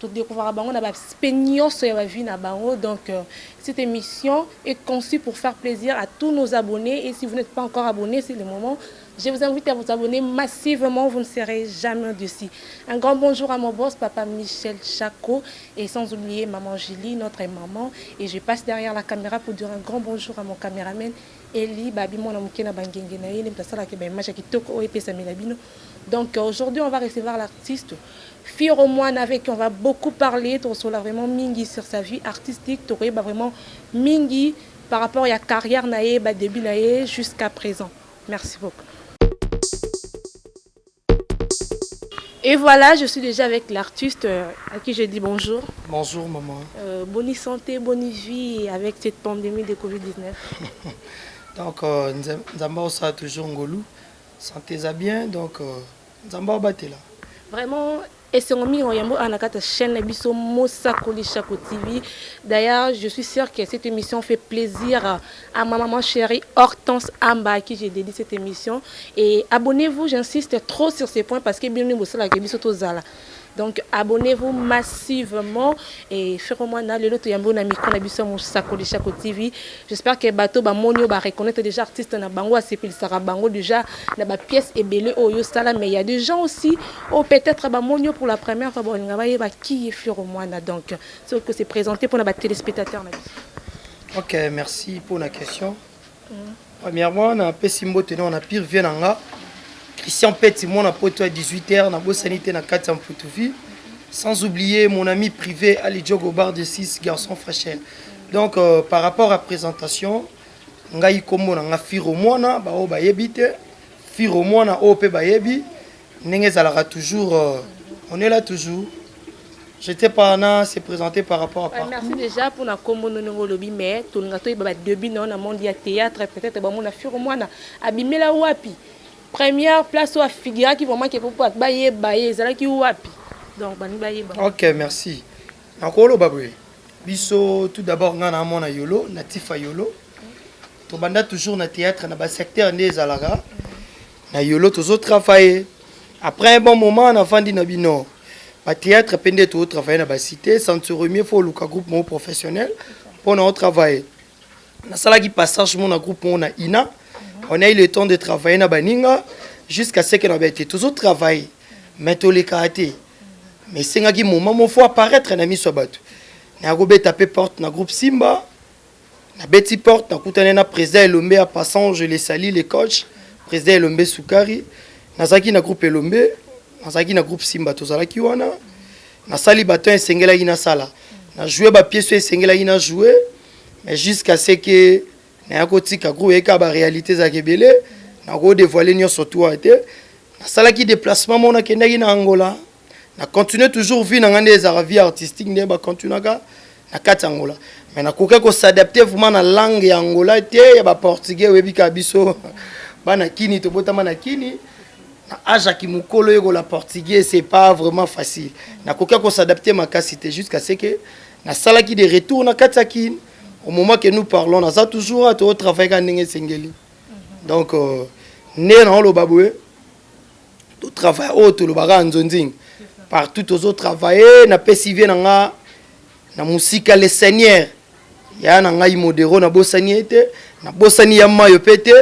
To decouvraka bango na ba aspects nionso ya ba vies na bango donc cette emission est conçue pour faire plaisir à tous nos abonnes et si vous n'etes pas encore abonne c'est le moment je vous invite à vous abonner massivement vous ne serez jamais dessus un grand bonjour à mon boss papa Michel Chaco et sans oublier maman Julie notre maman et je passe derrière la caméra pour dire un grand bonjour à mon caméraman Eli babi mwana moke na bangenge na ye nde moto asalaka ba image ya kitoko oyo epesamela bino donc aujourd'hui on va recevoir l'artiste Firo Muana avec qui on va beaucoup parler toko solola vraiment mingi sur sa vie artistique toko yeba vraiment mingi par rapport ya carrière na ye ba debut na ye jusqu'à present merci beaucoup. Et voilà, je suis déjà avec l'artiste euh, à qui je dis bonjour. Bonjour maman. Euh, bonne santé, bonne vie avec cette pandémie de Covid-19. donc, euh, Nzamba Osa toujours Ngolou. Santé ça bien, donc euh, Nzambe abatela. Vraiment esengo mingi na yambo awa na kati ya chaîne na biso Mosakoli Shako TV. D'ailleurs, je suis sûr que cette émission fait plaisir à ma maman chérie Hortense Amba à qui j'ai dédié cette émission et abonnez-vous, j'insiste trop sur ce point parce que bino nde bosalaka biso tozala Donc abonnez vous massivement et Ferro Mwana lelo to yambo na micro na biso mosakoli Shako TV j'espère que bato ba moni yo ba reconnaître déjà artiste na bango asepelisaka bango déjà na ba pièces ebele oyo yo sala mais il y a des gens aussi oh peut-être ba moni yo pour la première fois ba linga ba yeba qui est Ferro Mwana donc ce que c'est présenté pour na ba téléspectateurs na biso. OK merci pour la question. Premièrement, na pesi mbote na na pire vie na nga. Christian Peti, mwana poto ya 18h, na bosani te na kati ya Mputuvi. Sans oublier mon ami privé Ali Diogo Bar de 6, garçon fachel. Donc, euh, par rapport à présentation, ngai kombo na nga Firo Mwana, ba oyo bayebi te. Firo Mwana oyo pe bayebi. ndenge ezalaka toujours euh, on est là toujours j'étais pas na se présenter par rapport à parcours. merci déjà pour na kombo no ndenge olobi mais tolinga toyeba ba début na yo na monde ya théâtre peut-être bamona firo mwana abimela wapi première place oyo afigiraki vraiment ke popo bayeba ye ezalaki wapi donc balingi bayeba ok merci nakoloba boye biso tout d'abord ngai na amona yolo na tifa yolo tobanda toujours na théâtre na basecteur nde ezalaka na yolo tozo travailler après un bon moment na vandi na bino ba théâtre pe nde to travailler na ba cité sans se remier faut luka groupe mo professionnel pour na travailler na salaki passage mo na groupe mo na ina mhm. on a eu le temps de travailler na baninga jusqu'à ce que na bete tozo travailler mais to le karaté mais sengaki moment mo faut apparaître na miso bato na ko beta pe porte na groupe Simba Na beti porte na kutani na president Elombe a passant je le salut le coach president Elombe Sukari na zaki na groupe Elombe na zaki na groupe Simba to zalaki wana na sali ba temps esengelaki na sala na jouer ba pièces esengelaki na jouer mais jusqu'à ce que na ya ko tika groupe eka ba réalité za kebele na ko dévoiler nionso tout ete na salaki déplacement mona kendaki na Angola na continuer toujours vie na ngai nde ezalaka vie artistique nde bacontinuaka na kati ya angola mais nakoki kosadapte vraiment na langue ya angola te ya baportugais oyebi kaka biso bana kini tobotama na kini na age ya kimokolo yekola portugais c'est pas vraiment facile nakoki kosadapte makasi te jusqu'à ce que nasalaki de retour na kati ya kini au moment que nous parlons naza toujours a totravaillaka ndenge esengeli donc euh, nde naoloba boye To travail oyo tolobaka nzonzing partout tozo travailler na pesi vie na nga na musika le seigneur ya na ngai modero na bosani ete na bosani ya mayo pe te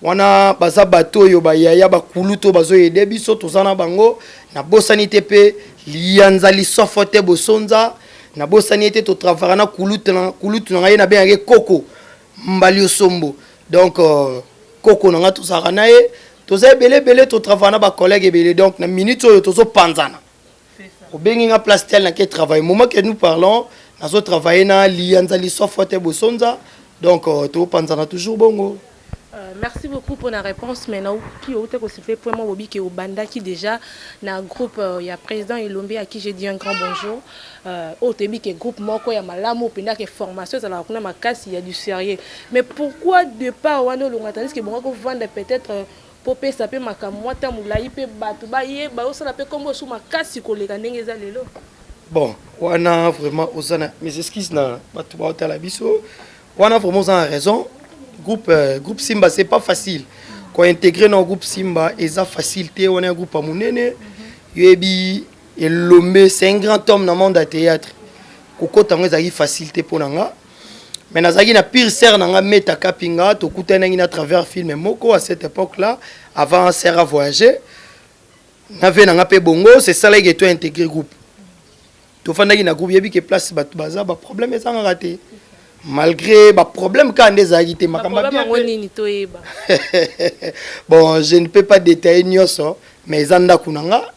wana baza bato oyo bayaya bakulutu bazo ede biso toza na bango na bosani te pe liyanza lisofo te bosonza na bosani ete totravaka na kulutu na ngai na bengaki koko Mbaliosombo donc euh, koko na nga tozalaka na ye toza ebele ebele totravaille na bacollègue ebele donc na minute oyo tozopanzana obengi nga place tel nake travaille moment que nous parlons nazotravaille na liyanza lisofo te bosonza donc euh, topanzana toujours bongo Euh, merci beaucoup pour la réponse mais naoki outa kosipe point moko bobi ke obandaki déjà na groupe euh, ya président elombe à qui j'ai dit un grand bonjour Oyo toyebi ke groupe moko ya malamu penda ke formation ezalaka kuna makasi ya du serieux mais pourquoi depart wana olonga tandis ke ebongaki ovanda peut etre po opesa pe makambo mua temps mulayi pe batu bayeba yo osala pe kombo lisusu makasi koleka ndenge eza lelo? Bon wana vraiment oza na mes excuses na batu baotala biso wana vraiment oza na raison groupe groupe Simba c'est pas facile ko integrer na groupe Simba eza facile te wana ya groupe ya munene yoyebi Elombe c'est un grand homme na monde ya théâtre. Kokota yango ezalaki facile te mpo na nga. Mais nazalaki na pire sœur na nga Meta Kapinga, tokutanaki na travers film moko à cette époque là, avant sœur a voyager. Na vie na nga mpe bongo, c'est ça là que toi intégré groupe. Tofandaki na groupe yebi que place bato baza ba problème ezangaka te. malgré baproblème kaka nde ezalaki te makambo yango nini toyeba bon je ne peux pas détailler nyonso mais eza ndako na nga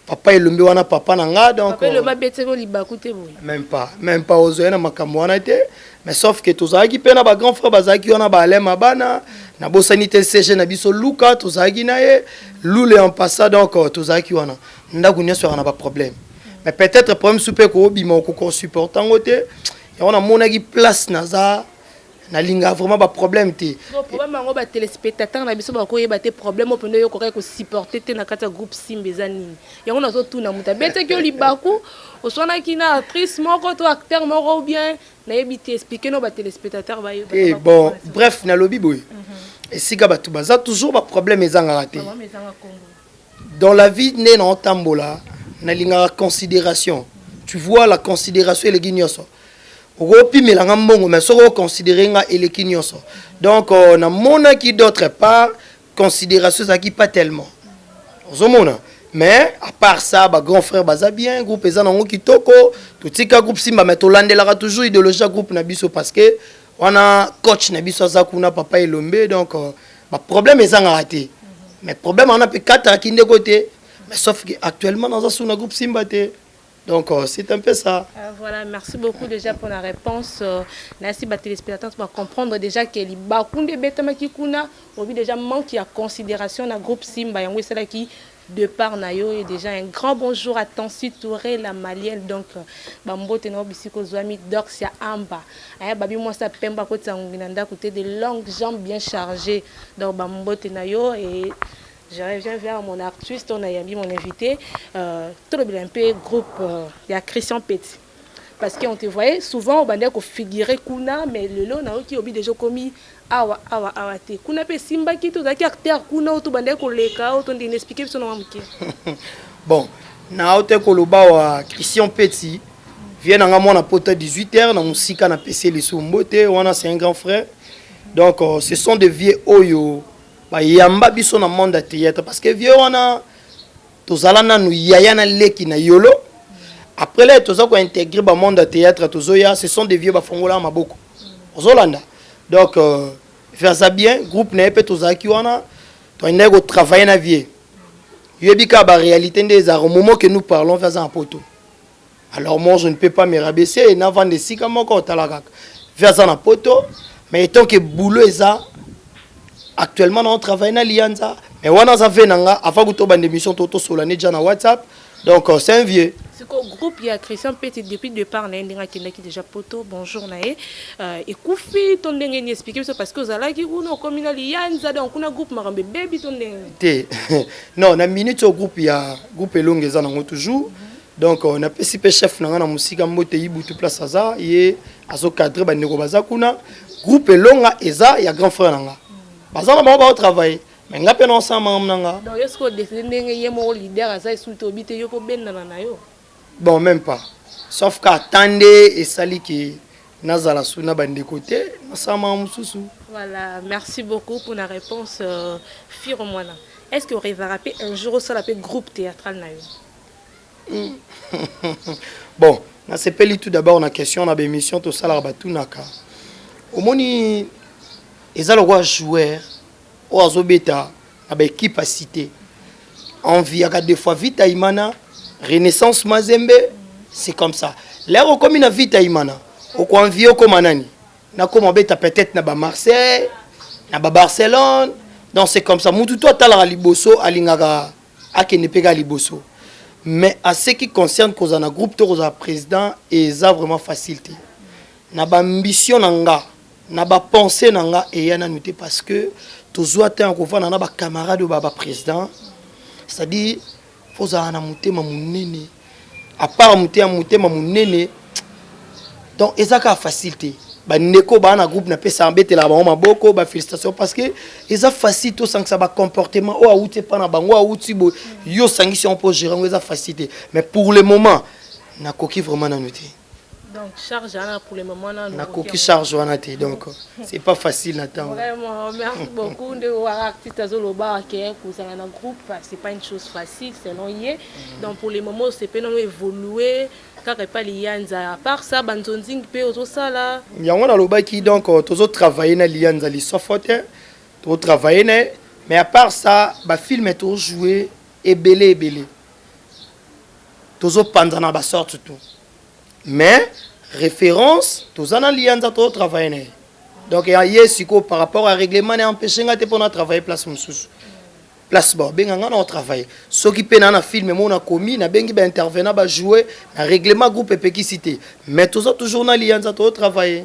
papa elombe wana papa na nga donc papa elombe abetaki yo libaku te boye même pas même pas ozwai na makambo wana te mais sauf que tozalaki mpe na bagrand frère bazalaki wana baalain mabana nabosani te cg na biso luka tozalaki na ye lule en passa donc euh, tozalaki wana ndako nyonso yaka na baproblème mais peut-être problème su mpe koobima okoki osupporte yango te yango namonaki place naza nalinga vraiment ba problème te problème yango ba téléspectateurs na biso bakoyeba te problème oyo mpenza oyokokaki kosupporte te na kati ya groupe simba eza nini yango nazotuna moto abetaki yo libaku oswanaki na actrice moko to acteur moko ou bien nayebi te explike no ba téléspectateurs baye eh, bon bref nalobi boye mhm. esika bato baza toujours ba problème ezangaka te dans la vie nde na otambola nalingaka consideration tu vois la consideration eleki nyonso okopimela nga mbongo mais soki oconsidere nga eleki nyonso donc euh, namonaki d'autre part consideration ezalaki pas tellement ozomona mais à part ça ba grand frère baza bien groupe eza nango kitoko totika groupe simba mais tolandelaka toujours idéologie ya groupe na biso parce que wana coach na biso aza kuna papa elombe donc euh, ba problème ezangaka te mais problème wana mpe kataka kindeko te mais sauf que actuellement naza suna groupe simba te donc euh, c'est un peu ça euh, voilà merci beaucoup déjà pour la réponse euh, nasi ba téléspectateurs ba comprendre déjà que libaku nde ebetamaki kuna obi déjà manque ya considération na groupe simba yango esalaki de part na yo et dejà un grand bonjour à Tancy Toure la malienne donc ba mbote na yo bisika ozuami Dorcia Amba eh babi mwasi ya pembe akotisa ngungi na ndaku te de longue jambe bien charge donc ba mbote na yo et je reviens vers mon artiste on a yambi mon invite euh, tolobela un peu groupe euh, ya Christian Petit Parce que on te voyait souvent obandaki ko figurer kuna mais lelo nayoki obi deja okomi awa awa awa te kuna mpe esimbaki te ozalaki acteur kuna oyo tobandaki koleka oyo tondini explique biso na mwa moke bon naute koloba wa christian peti vie na nga mwana pota 18 heures na mosika napesi lisu mbote wana c'est un grand frère donc euh, ce sont des vieux oyo bayamba biso na monde ya théâtre parce que vieux wana tozala nanu yaya na leki na yolo après là toza ko intégrer ba monde ya théâtre tozoya ce sont des vieux bafongola maboko ozolanda donc euh, versa bien groupe na ye mpe tozalaki wana toyendaki kotravaille na vie yoyebi kaka baréalité nde ezalaka momo ke nous parlons mpe aza na poto alors moi je ne peux pas me rabaisser na vanda esika moko tala kaka vi aza na poto mais etant que boulot eza actuellement na on travaille na lianza mais wana aza ve na nga afa kuto bande émission to tosola ne ja na whatsapp donc euh, c'est un vieux siko groupe ya christian pete depuis départ na ye ndenge akendaki déjà poto bonjour na ye euh, ekufi to ndenge ni explike biso parce que ozalaki kuna okomi na liyanza donc kuna groupe makambo ebebi to ndenge te non na minute oyo groupe ya groupe elongo eza nango toujours mm -hmm. donc euh, napesi mpe chef na ngai na mosika mbote ibutu place aza ye azocadre bandeko baza kuna groupe elonga eza ya grand frère na ngai baza na bango baotravaille me ngai mpe naosala makambo na ngai donc yo soki odeside ndenge ye moko leader aza esuki te obi te yo mpo obendana na yo bon même pas sauf ka ata nde esali ke nazala su na bandeko te nasala makambo mosusu voilà merci beaucoup mpo na réponse euh, firo mwana est ce que orevaka mpe un jour osala mpe groupe théâtral na yo Bon, nasepeli tout d'abord na question na bemission tosalaka batunaka. Omoni eza lokola joueur oyo azobeta na baekipe ya cité enviaka de fois vita imana renaissance mazembe c'est comme ça lere okomi na vita imana okoenvie okoma nani nakoma obeta peut-être na bamarseille na babarcelone donc c'est comme ça mutu to atalaka liboso alingaka akende mpe kaka liboso mais à ce qui concerne kozala na groupe to kozala président eza vraiment facile te na baambition na nga na bapense na nga eya nanu te parce que tozwa temps ya kovanda na bacamarade oyo baa baprésident c'est-à-dire fozala na motema monene à part motema motema monene donc eza kaka facile te bandeko baa na groupe napesaka betelaka bango maboko bafélicitation parce que eza facile tosangisa bacomportement oyo awuti epa na bango awuti boye yo osangisi yango mpo gérant yango eza facile te mais pour le moment nakoki vraiment nanu te Donc charge ana pour le moment na na koki charge wana te donc c'est pas facile na temps. Vraiment merci beaucoup nde wa artiste azo loba que kozala na groupe c'est pas une chose facile selon ye. Mm. Donc pour le moment c'est pe na évoluer kaka epai liyanza à part ça banzonzing mpe ozosala yango nalobaki donc euh, tozo travailler na liyanza lisofo te tozo travailler na ye mais à part ça bafilme tozo joue ebele ebele tozo panzana ba sorte tout mais référence toza na liyanza to travailler na ye donc ya ye sikoyo par rapport ya règlement na empêche nga te mpo na travailler place mosusu place baobenga nga na otravaille soki mpe naa na filme mo nakomi nabengi baintervenant bajoue na règlement groupe epekisi te mais toza toujours na liyanza to otravaille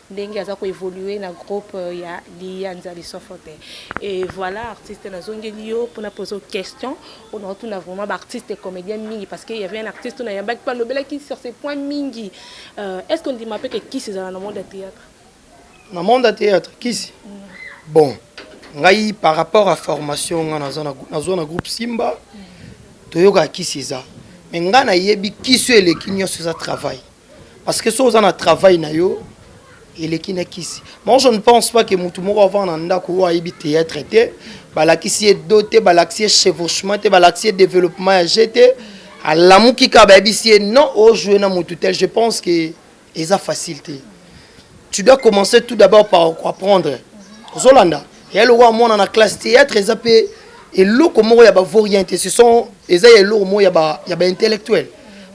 ndenge aza ko evoluer na groupe ya liyanza lisofo te et voilà artiste na zongeli yo pona pozo question pona otuna vraiment ba artiste comedien mingi parce que il y avait un artiste na yambaki pa lobelaki sur ce point mingi euh, est ce qu'on dit ma pe que kisi zala na monde ya théâtre na monde ya théâtre kisi mm. bon ngai par rapport à formation nga naza nazo na groupe Simba mm. toyoka kisi eza mais nga na yebi kisi eleki nyoso eza travail parce que so oza na travail na yo eleki na kisi moi je ne pense pas que motu moko avanda na ndako oyo ayebi théâtre te balakisi ye do te balakisi ye chevauchement te balakisi ye développement ya je te alamuki kaka bayebisi ye non ojoue na motu tel je pense que eza facile te tu dois commencer tout d'abord par apprendre ozolanda mm -hmm. ya lokola mwana na classe théâtre eza mpe eloko moko ya bavorien te ce sont eza ya eloko moko ya baintellectuel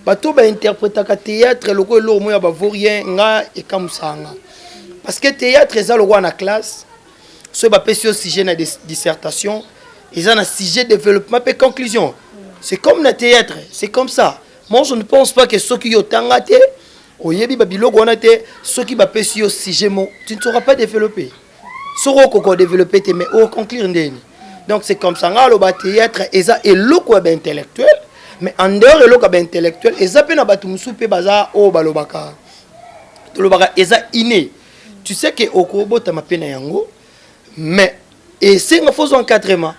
bato bainterpretaka théâtre lokola eloko moko ya bavorien nga ekamusaka nga parce que théâtre eza lokola na classe soki bapesi yo sujet na dissertation eza na sujet développement mpe conclusion c'est comme na théâtre c'est comme ça moi je ne pense pas que soki yo otanga te oyebi babiloko wana te soki bapesi yo sujet mo tu ne sauras pas développer soki okoka odeveloppe te mais oconclure ndeni donc c'est comme ça nga aloba théâtre eza eloko ya baintellectuel mais en dehors eloko ya baintellectuel eza mpe na bato mosusu mpe baza oyo oh, balobaka tolobaka eza inné tu sais ke okobotama mpe na yango mais esenga fo ozwa encadrement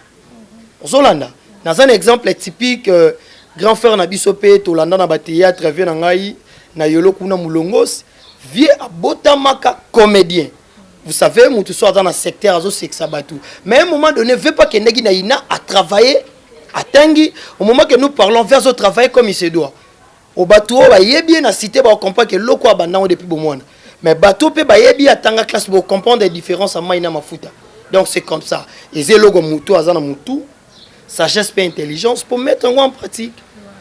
ozolanda naza na exemple typique euh, grand frère na biso mpe tolanda na bathéâtre vie na ngai na yolo kuna molongos vie abotamaka comédien vous savez mutu so aza na secteur azosekisa bato mais un moment donné veut pas kendaki na ina a travailler atangi au moment que nous parlons veut azo travailler comme il se doit o bato oyo bayebi ye na cité baocomprendre ke eloko oyo abandango depuis bomwana mais bato mpe bayebi ye atanga classe bocomprendre différence ya mai na mafuta donc c'est comme ça eza eloko motu aza na motu sagesse mpe intelligence pour mettre yango en pratique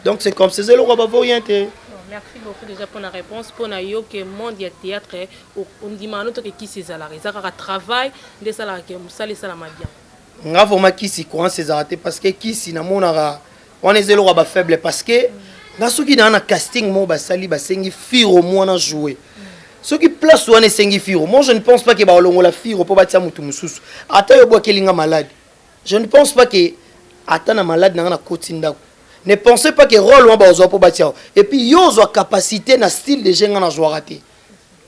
donc c'est comme ces eloko bavo rien te merci beaucoup déjà pour la réponse pour na yo que monde ya théâtre ondimaka noto ke kisi ezalaka eza kaka travail nde esalaka ke mosala esalama bien nga vraimen kisi courance ezalaka te parce que kisi namonaka wana eza eloko ya bafaible parce que nga soki naa na casting moko basali basengi firo mwana joue soki place wana esengi firo moi je ne pense pas ke baolongola firo mpo batia motu mosusu ata yo bwakeli nga malade Je ne pense pas que ata na malade na nga na koti ndako. Ne pensez pas que role wana bakozwa mpo batia yo. Et puis yo ozwa capacité na style de jeu nga nazwaka te.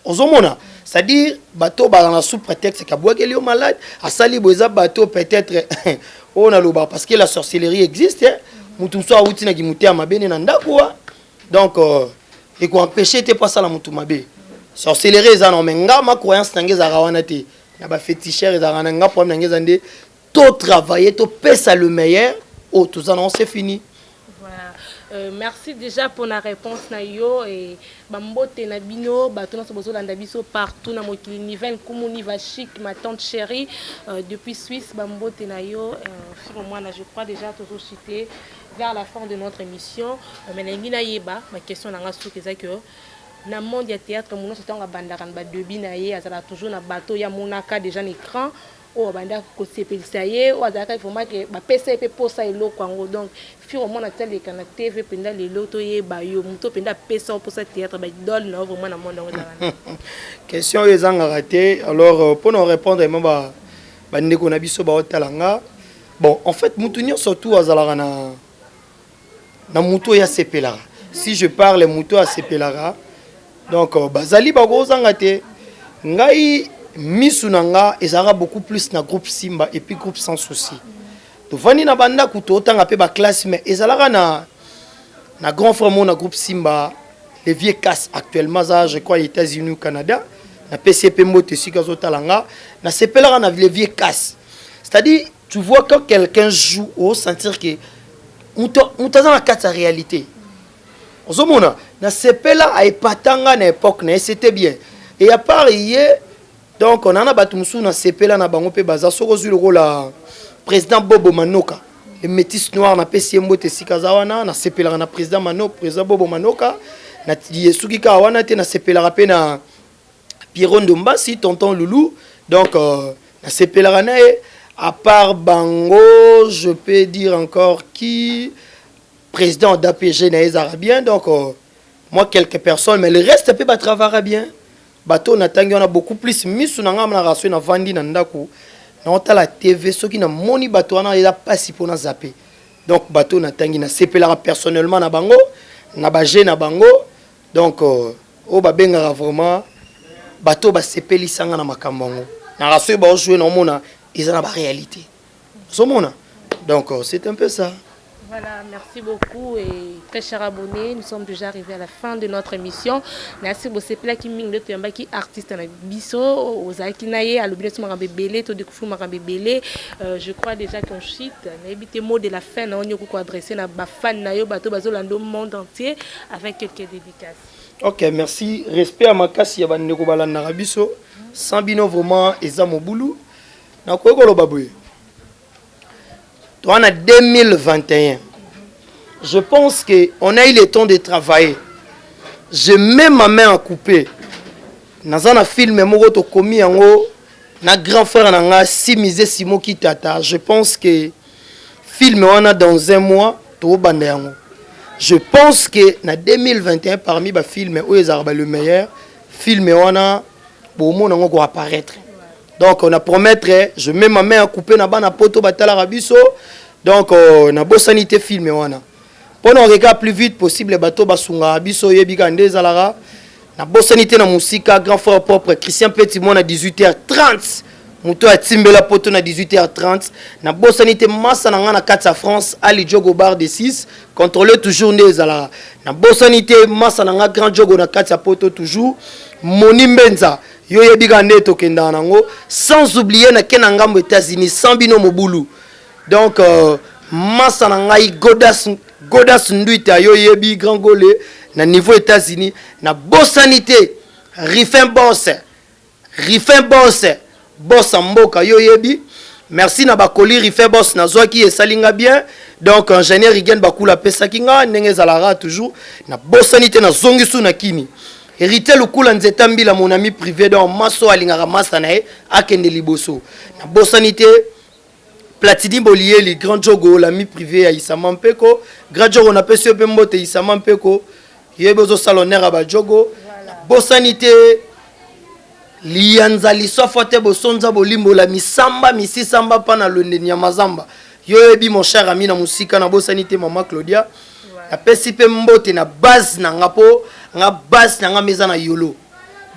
ozomona c'est-à-dire bato oyo bazala na sous prétexte kabwakeli yo malade asali boye eza bato peut-être oyo naloba parce que la sorcellerie existe motu mosusu awuti na kimotema mabe nde na ndako wa donc euh, ekoempeshe te mpo asala motu mabe sorcellerie eza na me nga ma croyance na ngai ezalaka wana te na ba feticheur ezalaka na nga problème na nga eza nde to travailler to pesa le meilleur oyo oh, toza nango c'est fini voilà. Euh, merci déjà pour la réponse na yo et bambote na bino bato nyonso bozolanda biso partout na mokili niven kumuni va chic ma tante chérie euh, depuis suisse bambote na yo euh, firo mwana je crois déjà tozochite vers la fin de notre émission euh, mais nalingi nayeba baquestion na nga soki eza que Na monde ya theatre munoso tango abandaka na ba debut na ye azalaka toujours na batu oyo ye amonaka dejà na ecran oyo abandaki ko sepelisa ye oyo azalaka vraiment que ba pesa ye pe posa ya eloko yango donc fille omona ata leka na TV penza lelo to yeba yo mutu oyo penza apesa yo posa ya theatre ba idole na yo vraiment na monde yango eza wana. Question oyo ezangaka te alors pona o repondre vraiment ba ba ndeko na biso bao tala nga bon en fait mutu nionso tout azalaka na na mutu oyo asepelaka si je parle mutu oyo asepelaka donc euh, bazali bakozanga te ngai misu na nga ezalaka beaucoup plus na groupe simba et puis groupe sans souci tovandi na bandako totanga mpe baklasse mais ezalaka na na grand frère moko na groupe simba le vieux casse actuellement aza je crois états-unis ou canada napesi ye mpe mbote esika azotala nga nasepelaka na le vieux casse c'est-à-dire Tu vois quand quelqu'un joue au sentir que muto muto aza na kati ya réalité. Ozomona na sepela a epatanga na époque na c'était bien. Et à part hier donc on a bato mosusu na sepela na bango mpe baza soki ozwi lokola président bobo manoka le métis noir napesi ye mbote esika aza wana nasepelaka na président mano président bobo manoka na ye soki kaka wana te nasepelaka mpe na Pierrot Ndombasi, Tonton Loulou. Donc, euh, na sepelaka na ye. À part Bango, je peux dire encore qui Président d'APG na les Arabiens. Donc, euh, moi, quelques personnes, mais le reste, peut travailler bien. Bateau, on attend, on a beaucoup plus. Misu, na ngam, na rasu, na vandi, na ndaku. Na ota la TV, ceux qui na moni bateau, on a la passe pour na zapper. Donc, bateau, na tangi, na sepelaka personnellement na Bango, na bagé na Bango. Donc oyo ba bengaka vraiment bato ba sepeli sanga na makambo yango. Na rasoe ba oshwe na omona eza na ba realite. Ozo mona? Donc c'est un peu ça. Voilà, merci beaucoup et très cher abonné, nous sommes déjà arrivés à la fin de notre émission. Merci bosepela ki mingi ndoto yamba ki artiste na biso ozalaki na ye alobi neti makambo ebele to découvrir makambo ebele. Euh, je crois déjà qu'on shit nayebi te mot de la fin na yo nyokuko adresse na ba fan na yo bato bazolanda monde entier avec quelques dédicaces. Ok, merci. Respect à makasi ya bandeko balandaka biso. Sans bino vraiment eza mobulu. Nakoki koloba boye. Toi, en 2021, je pense qu'on a eu le temps de travailler. J'ai même ma main à couper. Dans un film, je suis commis en haut. Na grand frère, na nga, si misé Simo Kitata, je pense que Film wana dans un mois tobanda yango. Je pense que na 2021 parmi ba films oyo ezalaka ba le meilleur film wana bomona yango ko apparaître. Donc on a promettre je mets ma main à couper na bana poto batalaka biso. Donc euh, na bosani te film wana. Pona na kokeka plus vite possible bato basunga biso yebi kaka nde ezalaka na bosani te na musika grand frère propre Christian Petit mwana 18h30 moto ya timbela poto na 18h30 na bosani te masa na nga na kati ya France Ali Jogo bar de 6 contrôler toujours nde ezalaka na bosani te masa na nga grand Jogo na kati ya poto toujours Moni Mbenza yo yebi kaka nde tokendaka nango sans oublier na kena ngambo États-Unis sans bino mobulu Donc euh, masa na ngai Godas Godas Nduita yo yebi grand gole na niveau États-Unis na bosani te Rifin Boss Rifin Boss Boss mboka yo yebi merci na bakoli Rifin Boss nazwaki esali nga bien donc ingénieur Rigen Bakula apesaki nga ndenge ezalaka toujours na bosani te na zongi su na kini héritier lukula nzeta mbila mon ami privé donc maso alingaka masa na ye akende liboso na bosani te Platini Boliyeli, Grand Jogo, l'ami privé ya Isama Mpeko. Grand Jogo napesi yo mpe mbote Isama Mpeko. Yebi ozosala honneur ya ba Jogo. Bosani te liyanza liswafwa te bosonza bolimbola misamba misisamba mpa na lwende nyamazamba yo oyebi mon cher ami na mosika nabosani te mama claudia napesi mpe mbote na base na nga mpo nga base na nga meza na yolo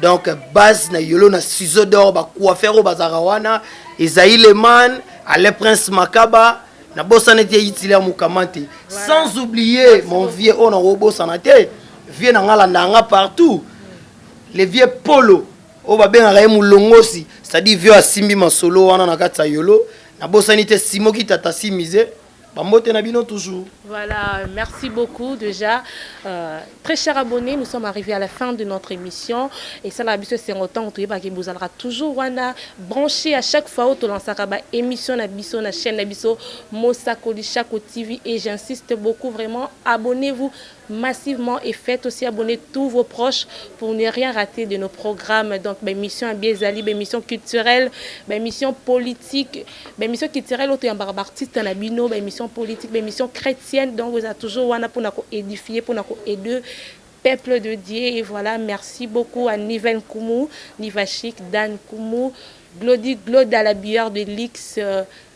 donc base na yolo na ciseau d'or ba coiffeur oyo bazalaka wana ezali leman ale prince makaba na bosana ete yitilia mukamante sans oublier mon vieux oyo nakobosana te vieux na nga alanda yanga partout le vieux polo oyo babengaka ye molongosi c'est-à-dire vieux asimbi masolo wana na kati ya yolo nabosani te simoki tata simize Bambote na bino toujours. Voilà, merci beaucoup déjà. Euh, très cher abonné, nous sommes arrivés à la fin de notre émission. Et ça, la biso c'est autant que baki bozalaka toujours wana branché à chaque fois où tu lances ba émission na biso na chaîne na biso Mosakoli Chaco TV et j'insiste beaucoup vraiment abonnez-vous massivement et faites aussi abonner tous vos proches pour ne rien rater de nos programmes donc ba émission ya bien ezali ba émission culturelle ba émission politique ba émission culturelle oto yambaka ba artistes na bino ba émission politique ba émission chrétienne donc eza toujours wana pona ko édifier pona ko aider peuple de Dieu et voilà merci beaucoup à Niven Kumu Nivashik Dan Kumu Glody Gloda la bière de luxe euh,